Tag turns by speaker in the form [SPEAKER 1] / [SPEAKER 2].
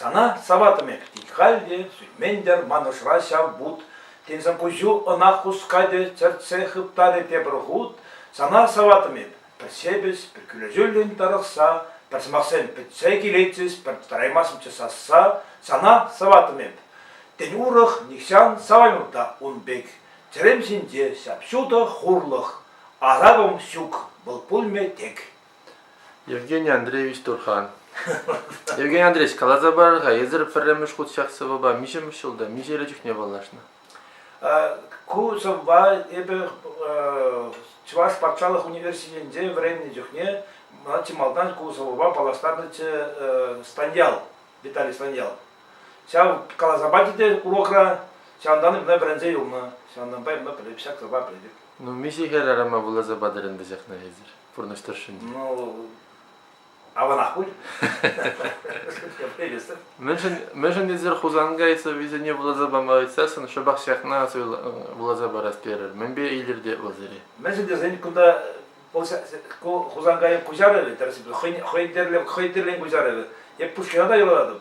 [SPEAKER 1] Сана саватӑп-мӗк, тет халь те сӳтмен-тӗр ман ӑшра ҫав вут. Тенсӗр пуҫу ӑна хускатӗ, чӗртсе хыптарӗ тепӗр хут. Сана саватӑп-мӗп, пӗр сепӗс, пӗр кӳлӗ-тӳллӗн тарӑхса, пӗр сӑмахсем пӗтсе килетчӗҫ, пӗр тӑраймастӑмччӗ сасса. Сана саватӑп-мӗп. Тен, урӑх нихҫан саваймӑп та ун пек. Чӗрем ҫинче ҫап-ҫутӑ хурлӑх. Аракӑм ҫук, вӑл пулмӗ тек. Евгений
[SPEAKER 2] Андреевич Турхан. Евгений Андреевич, каласа парар-ха, эсир пӗрремӗш хут ҫак сӑвӑпа миҫемӗш ҫулта, миҫе чухне паллашнӑ? Ку сӑвӑпа
[SPEAKER 1] эпӗ Чӑваш патшалӑх университетӗнче вӗреннӗ чухне мана чи малтан ку сӑвӑпа паллаштарнӑччӗ Станьял, Виталий Станьял. Ҫав каласа пачӗ те урокра, ҫавӑнтан ӑна вӗренсе юлнӑ, ҫавӑнтанпа ӑна ҫак сӑвӑпа пӗлетӗп. Ну, миҫе хӗр
[SPEAKER 2] арӑма вуласа патӑр ӗнтӗ ҫакна эсир? пурнӑҫ тӑршшӗнче? Ну,
[SPEAKER 1] аванах пуль.
[SPEAKER 2] Мӗншӗн, мӗншӗн эсир Хусанга сӑввисене вуласа пама ыйтсассӑн шӑпах ҫакна вуласа парас терӗр. Мӗнпе илӗртет вӑл сире? Мӗншӗн тесен кунта
[SPEAKER 1] Хусанкайӑк куҫарӑвӗ тӗрӗс хӑйӗн тӗрлӗ хӑй тӗрлӗ куҫарӑвӗ. Эп Пушкина та юрлатӑп.